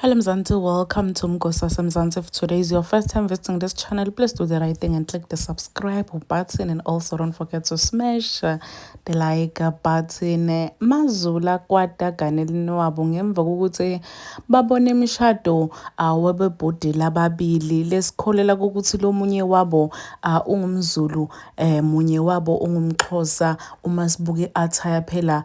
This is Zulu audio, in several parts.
Hello Mzansi, welcome to Mgosasa Mzansi. If today is your first time visiting this channel, please do the right thing and click the subscribe button and also don't forget to smash the like button. Mazula kwada ganelini wabo ngemva kokuthi babone imishado ah, wabebhudi lababili lesikholela kokuthi lomunye wabo ah, ungumzulu eh munye wabo ungumxhosa uma sibuke attire phela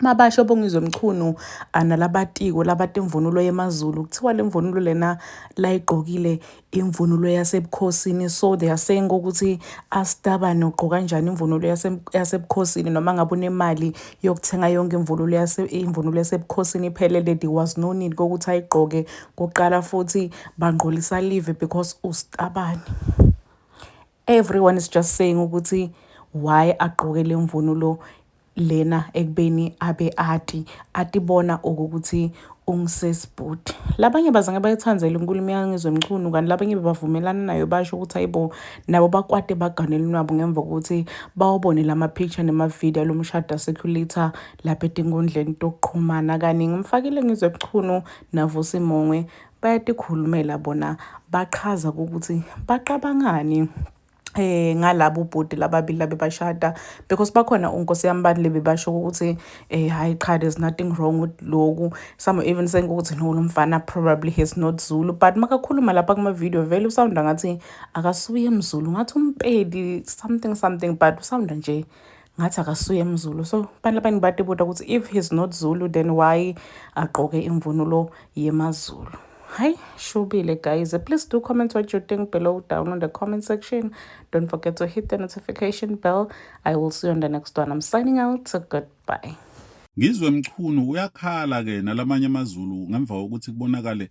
Mabasho Bongizwe Mchunu nalabatiko labati imvunulo yemaZulu kuthiwa le mvunulo lena layigqokile imvunulo yasebukhosini so they are saying ukuthi astabane ugqoka kanjani imvunulo yasebukhosini noma ngabe unemali yokuthenga yonke imvunulo yase imvunulo yasebukhosini iphelele there was no need kokuthi ayigqoke kuqala futhi bangqolisa live because ustabane Everyone is just saying ukuthi why agqoke le mvunulo lena ekubeni abe ati atibona okokuthi ungisesibhuti labanye bazange bayithandzele inkulumo yangizwe mchunu kanti labanye bebavumelana nayo basho ukuthi hayibo nabo bakwate baganele unwabo ngemva kokuthi bawabone lama-picture nemavidiyo alo mshado asekhulitha lapha etinkundleni tokuqhumana kaningi umfakile ngizwe mchunu navusimongwe bayatikhulumela bona bachaza ukuthi bacabangani eh ngalabo bhuti lababili labebashada because bakhona unkosi yami bani lebebasho ukuthi eh hayi cha there's nothing wrong with loku some even saying ukuthi no lomfana probably he's not Zulu but makakhuluma lapha kuma video vele usound ngathi akasuye mzulu ngathi umpedi something something but usound nje ngathi akasuye emzulu so abantu labanye batibuta ukuthi if he's not zulu then why agqoke imvunulo yemazulu Hi, Shubile guys. Please do comment what you think below down on the comment section. Don't forget to hit the notification bell. I will see you on the next one. I'm signing out. So goodbye. Ngizwe Mchunu uyakhala ke nalamanye amazulu ngemva kokuthi kubonakale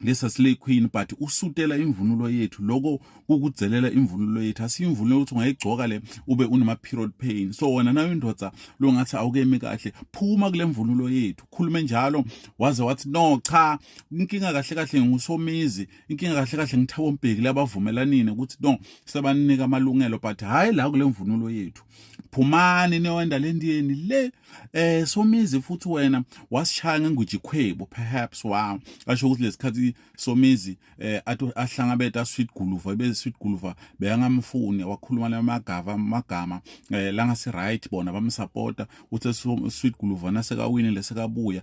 lesa slay queen but usutela imvunulo yethu loko kukudzelela imvunulo yethu asiyimvunulo ukuthi ungayigcoka le ube unama period pain so wena nayo indoda longathi awukemi kahle phuma kule mvunulo yethu khulume njalo waze wathi no cha inkinga kahle kahle ngusomizi inkinga kahle kahle ngithabo mbheki labavumelanini ukuthi no sebanika amalungelo but hayi la kule mvunulo yethu phumani niyowenda le ndiyeni le eh somizi futhi wena wasishaya ngenguji khwebo perhaps wow asho ukuthi lesikhathi somizi eh ahlangabeta sweet guluva ibe sweet guluva beyangamfuni wakhuluma lamagava magama eh langa si right bona bamsupporta uthe sweet guluva nasekawini lesekabuya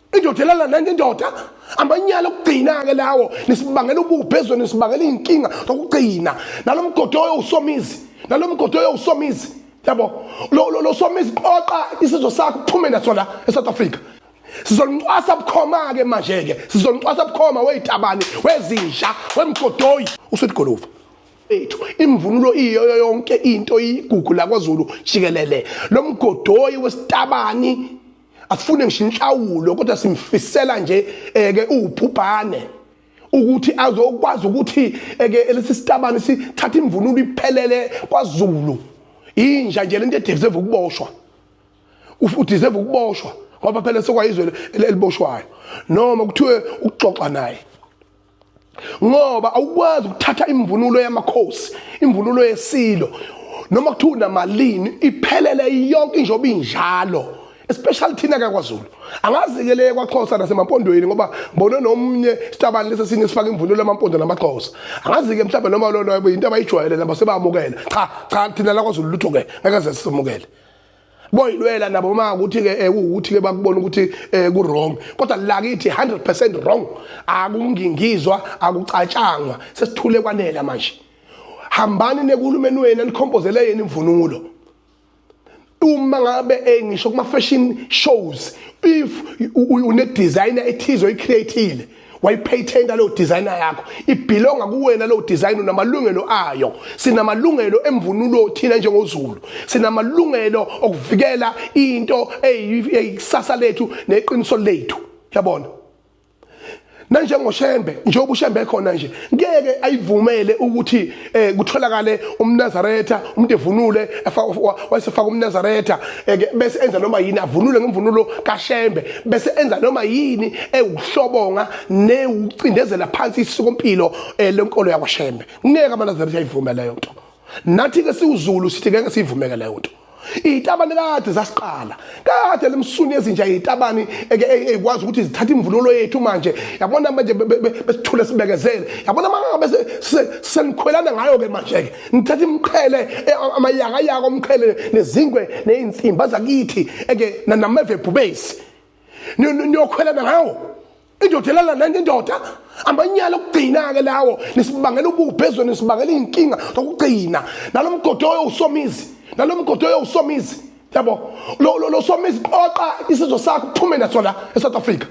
indoda elala nenye indoda amanyala okugcina-ke lawo nisibangela ububhe ezweni nisibangela iy'nkinga zokugcina nalo mgodi oyowusomizi nalo mgodi oyowusomizi yabo lo somizi qoqa isizwe sakho uphume naso la e-south africa sizolincwasa bukhoma-ke manje-ke sizolincwasa bukhoma weyitabane wezinja wemgodoyi usuligoluva ethu imvunulo iyo yonke into iyigugu lakwazulu jikelele lo mgodoyi wesitabani asifune ngisho inhlawulo kodwa simfisela nje eke eh, uwubhubhane ukuthi azokwazi ukuthi eke eh, lesi sitabane sithatha imvunulo iphelele kwaZulu inja nje lento edeserve ukuboshwa udeserve ukuboshwa ngoba phela sekwayizwe eliboshwayo noma kuthiwe ukuxoxa naye ngoba awukwazi ukuthatha imvunulo yamakhosi imvunulo yesilo noma kuthiwa unamalini iphelele yonke injoba injalo especially thina kakwaZulu angazikeleke kwaXhosa nasemampondweni ngoba ngibone nomunye sitabani lesi sinye sifaka imvunulo yamampondo namaXhosa angazike mhlawumbe noma lona yinto abayijwayele nabo sebamukela cha cha thina lakwaZulu lutho ke ngeke sisemukele boyilwela nabo ma ukuthi ke eh, ukuthi ke bakubona ukuthi eh, ku wrong kodwa lakithi 100% wrong akungingizwa akucatshangwa sesithule kwanela manje hambani nekulumeni wena nikhompozele yena imvunulo uma ngabe eh, ngisho kuma fashion shows if une designer ethizo icreatile wayipatent leyo designer yakho ibhilonga kuwena leyo design unamalungelo ayo sinamalungelo emvunulo thina njengozulu sinamalungelo okuvikela into eyikusasa lethu neqiniso lethu yabona nanjengoshembe njengoba ushembe khona nje ngeke ayivumele ukuthi eh kutholakale umnazaretha umuntu evunule wayesefaka umnazaretha eh, bese enza noma yini avunule ngemvunulo kashembe bese enza noma yini ewuhlobonga newucindezela phansi isikompilo eh, lenkolo yakwashembe ngeke amanazaretha ayivume leyo nto nathi ke siwuzulu sithi ngeke siyivumeke leyo nto izitabane kade zasiqala kade lemsuni ezinja izitabane eke ekwazi ukuthi zithathe imvunulo yethu manje yabona manje besithule sibekezele yabona mangabe senikhwelana ngayo ke manje ke nithatha imqhele e, amayaka yaka omqhele nezingwe nezinsimba zakithi eke nameve bhubesi niyokhwelana ngawo indoda elala nenye indoda amanyala okugcina-ke lawo nisibangela ububhe ezweni nisibangela iy'nkinga zokugcina nalo mgodi oyowusomizi nalo mgodi oyowusomizi yabo lo somizi qoqa isizwe sakho uphume naso la esouth africa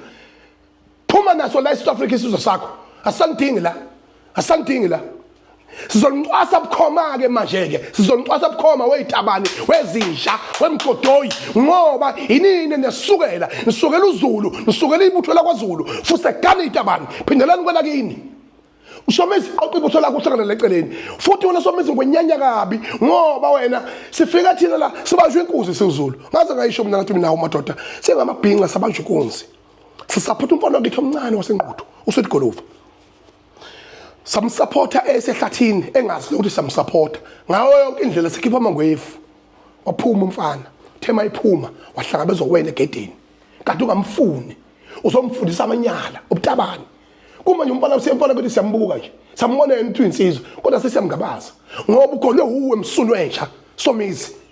phuma naso la esouth africa isizwe sakho asanidingi la asangidingi la sizonixwasa bukhoma ke manje ke sizonixwasa bukhoma weyitabani wezinja wemgodoyi ngoba inini nesukela nisukela uzulu nisukela ibutho lakwaZulu fuse gani itabani phindelani kwela kini ushomisi qoqa ibutho lakho uhlangana leceleni futhi wena shomisi ngwenyanya kabi ngoba wena sifika thina la sibanjwe inkuzi siwuzulu ngaze ngayisho mina ngathi mina umadoda singamabhinqa sabanjwe inkunzi sisaphutha umfana wakithi omncane wasenquthu usethi golova samsupporta esehlathini engazi nokuthi samsupporta ngawo yonke indlela sikhipha amangwefu waphuma umfana thema iphuma wahlangabezwa wena egedeni kanti ungamfuni uzomfundisa amanyala ubutabani kumanje umfana usiyemfana ukuthi siyambuka nje sambona yena ukuthi uyinsizwa kodwa sesiyamngabaza ngoba ugonwe wuwe msunu entsha somizi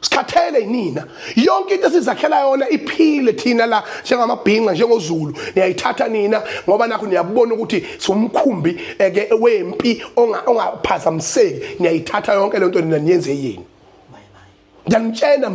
sikhathele yinina yonke into esizakhela yona iphile thina la njengamabhinca njengozulu niyayithatha nina ngoba nakho niyabona ukuthi somkhumbi eke wempi ongaphazamiseki niyayithatha yonke lento nina niyenze yini ngiyanitshena